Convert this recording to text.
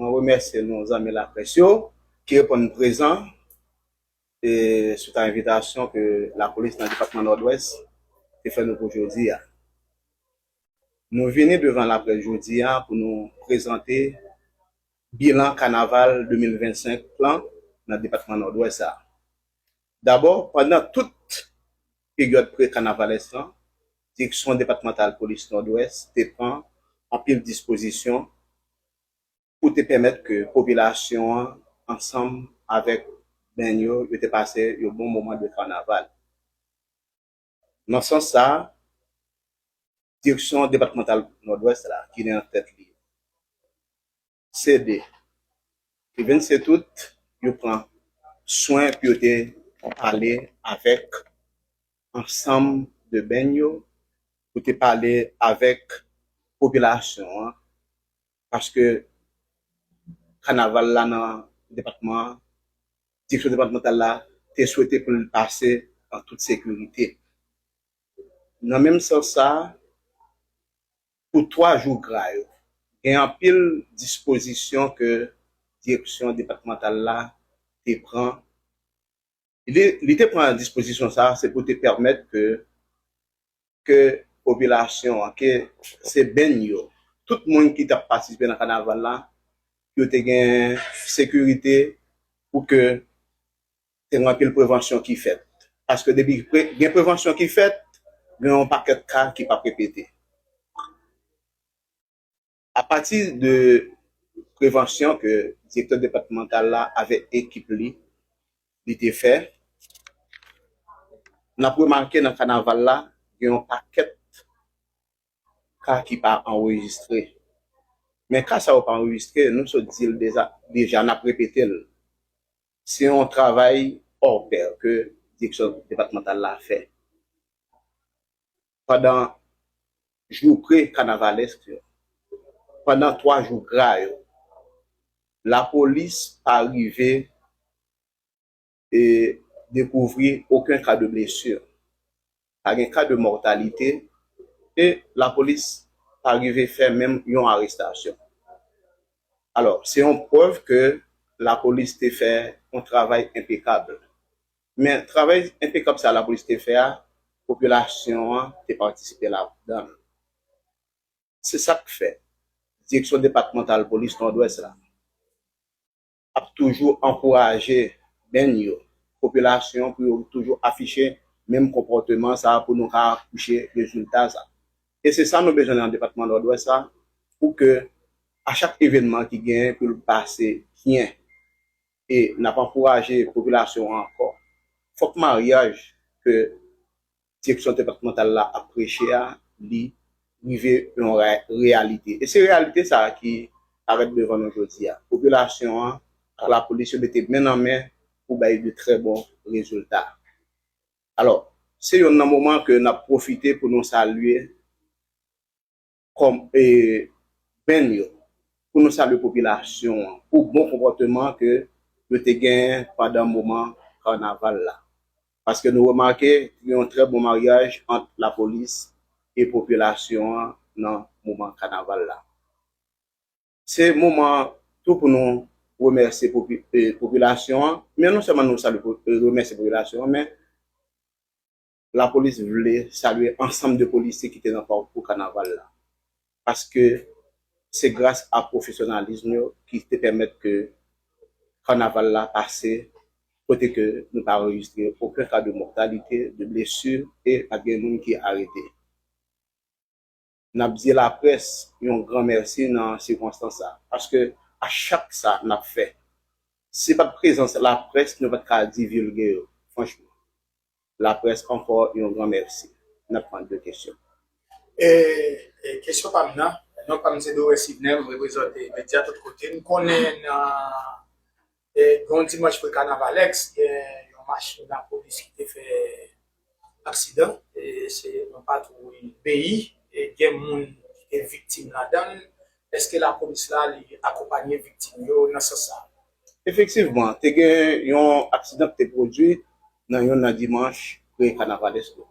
Mwen remèsye nou zanmi laprès yo ki reponn prezan e swit a envitasyon ke lapolis nan depatman Nòdwès te fè nou pou jodi a. Nou vini devan laprès jodi a pou nou prezante bilan kanaval 2025 lan nan depatman Nòdwès a. Dabò, pandan tout peryòd pre-kanavalès lan, Direksyon Depatmantal Polis Nòdwès te pran anpil dispozisyon pou te pèmèt ke popilasyon an ansanm avèk band yo, yo te pase yon bon moman de kanaval. Nan sans sa, direksyon depatmantal Nòdwès la, ki gen an tèt li CD, le 27 out, yo pran swen pou yo te pale avèk ansanm de beny yo pou te pale avèk popilasyon an paske kanaval la nan depatman an direksyon depatmantal la te swete pou l pase an tout sekirite nan menm sans sa pou 3 jou gra yo gen anpil dispozisyon ke direksyon depatmantal la te pran. Li te pran dispozisyon sa a se pou te pèmèt ke ke popilasyon an, ke Sebenn yo, tout moun ki t ap patisipe nan kanaval la, pou yo te gen sekirite, pou ke te gen anpil prevansyon ki fèt. Paske depi gen prevansyon ki fèt, gen yon pakèt ka ki p ap repete. A pati de prevansyon ke direktè depatmantal la avèk ekip li, li te fè, n ap remake nan kanaval la gen yon pakèt ka ki pa anrejistre. Men ka sa yo pa anrejistre, nou sot di l deja, n ap repete l, se yon travay òpè ke direksyon depatmantal la fè. pandan jou pre-kanavalesk yo, pandan 3 jou gra yo, lapolis pa rive dekouvri oken ka de blesi, pa gen ka de mòtalite e lapolis pa rive fè menm yon arestasyon. Alò, se yon prèv ke lapolis te fè yon travay enpekab Men, travay enpekab sa a lapolis te fè a, popilasyon an te patisipe ladan l. Se sa k fè, Direksyon depatmantal polis Nòdwès la ap toujou ankouraje beny yo, popilasyon an pou yo toujou afiche menm konpòteman sa a pou nou ka akouche rezilta sa a. E se sa nou bezwen nan depatman Nòdwès la pou ke a chak evènman ki genyen pou l pase byen. e nap ankouraje popilasyon an ankò fòk maryaj ke direksyon depatmantal la ap preche a li rive yon reyalite e se reyalite sa a ki parèt devan nou jodi a popilasyon an ak lapolis yo mete men nan men pou bay de trè bon rezilta alò se yonn nan moman ke nap pwofite pou nou salye. kòm e band yo pou nou salye popilasyon an pou bon konpòteman ke yo te genyen pandan moman kanaval la paske nou remake gen yon trè bon maryaj ant lapolis e popilasyon an nan moman kanaval la. Se moman an tou pou nou remèsye popilasyon an men non sèlman nou salye remèsye popilasyon an men Lapolis vle salye ansanm de polisye ki te nan pakou kanaval la paske se gras a pwofesyonalism yo ki te pèmèt ke kanaval la pase kote ke nou pa anrejistre oken ka de mòtalite, de blesu e pat gen moun ki arete. N ap di laprès yon gran mèsi nan sikonstans sa a, paske a chak sa n ap fè, si pa t prezans laprès nou pa t ka divilge yo. Franchman, laprès ankò yon gran mèsi. N ap pran 2 kesyon. E kesyon pa m nan. Non pa m se Doré Sidnè, m reprezante medya tout kote. M konnen nan Yon dimanch pre kanavalèx gen yon machin lapolis ki te fè aksidan se yon patwouy BI gen moun ki te viktim ladann eske lapolis la li akonpanye viktim yo nan sans sa? Efektivman te gen yon aksidan ki te pwodwi nan yon nan dimanch pre kanavalèx yo